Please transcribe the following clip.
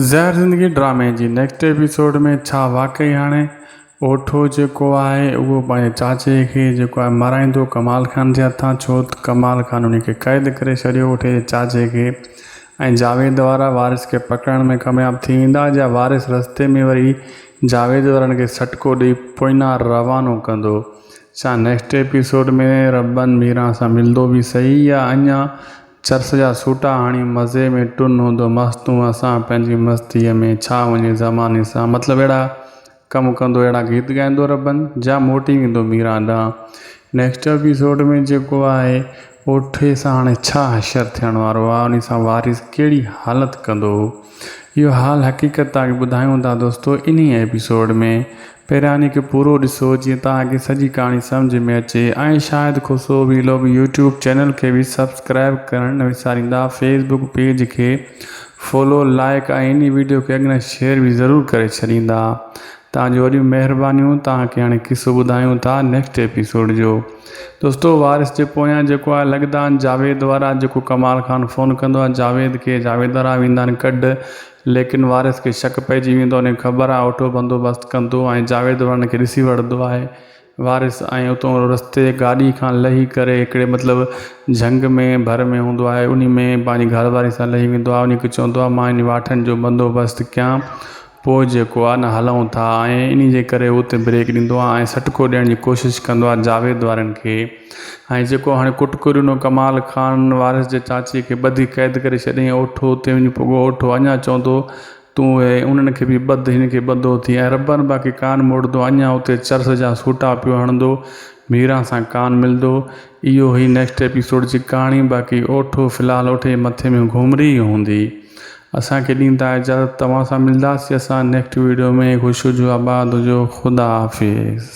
زهر زندگي ڊرامي جي نيڪسٽ ايپيسوڊ ۾ ڇا واقعي هاڻي اوٺو جيڪو آهي اهو پنهنجي چاچي کي جيڪو آهي مارائيندو ڪمال خان جي هٿان ڇوته ڪمال خان انهي کي قيد ڪري ڇڏيو اوٺي جي چاچي کي ۽ جاويد وارا وارث کي پڪڙڻ ۾ ڪامياب ٿي ويندا جا وارث رستي ۾ وري جاويد وارن کي سٽڪو ڏئي پوئنا روانو ڪندو ڇا نيڪسٽ ايپيسوڊ ۾ ربن ميران سان ملدو به سهي يا اڃان چرس جا سوٽا هڻي مزي ۾ ٽن هوندو مس تون اسان پنهنجي مستيء ۾ ڇا وڃي زماني سان مطلب اهڙا ڪم ڪندو اهڙا گيت ڳائيندو ربن جا موٽي ويندو ميران ڏانهن نيڪسٽ ايپيسوڊ ۾ جيڪو آهي اهو ٺيس هاڻي ڇا حشر ٿيڻ وارو آهي انهي سان وارث ڪهڙي حالت ڪندو. اهو حال حقيقت توهان کي ٻڌايون ٿا دوستو انهي ايپيسوڊ ۾. پهريان هڪ پورو ڏسو جيئن توهان کي سڄي ڪهاڻي سمجهه ۾ اچي ۽ Shahid Khoso vlog YouTube channel کي به سبسڪرائب ڪرڻ نه وساريندا فيس بڪ پيج کي فالو لائيڪ ۽ انهي ويڊيو کي اڳ نه شيئر به ضرور ڪري ڇڏيندا توهان جون وڏيون مهربانيون توهان کي هاڻي قصو ٻڌايون ٿا نيڪسٽ ايپيسوڊ جو دوستو وارث جي پويان جيڪو آهي لڳدان جاويد وارا جيڪو ڪمال خان فون ڪندو آهي جاويد کي جاويد وارا ويندا آهن ڪڍ ليڪن وارث کي شڪ پئجي ويندو آهي ان کي خبر آهي اهو اٺو بندوبست ڪندو ۽ جاويد وارن کي ڏسي وڙهندو آهي وارث، ۽ اتون رستي تي گاڏي کان لهي ڪري هڪڙي مطلب جهنگ ۾ ڀر ۾ هوندو آهي انهي ۾ پنهنجي گهر واري سان لهي ويندو آهي انهي کي چوندو آهي مان انهي واٺن جو بندوبست ڪيان پوء جيڪو آهي نه هلئون ٿا ۽ انهي جي ڪري هو اتي بريڪ ڏيندو آهي ۽ سٽڪو ڏيڻ جي ڪوشش ڪندو آهي جاويد وارن کي ۽ جيڪو هاڻي ڪٽڪريونو ڪمال خان وارث جي چاچي کي ٻڌي قيد ڪري ڇڏيائين اوٺو اتي وڃي پڳو اوٺو اڃان چوندو تون اي انهن کي به ٻڌ، هن کي ٻڌو ٿي ۽ ربن باقي ڪان موڙندو، اڃا اتي چرس جا سوٽا پيو هڻندو، ميران سان ڪان ملندو. اهو هئي نيڪسٽ ايپيسوڊ جي ڪهاڻي باقي اوٺو في الحال اوٺي جي مٿي ۾ گهومري ئي هوندي. اسان کي ڏيندا اجازت توهان سان ملنداسي اسان نيڪسٽ ويڊيو ۾ خوش هجو آباد هجو خدا حافظ.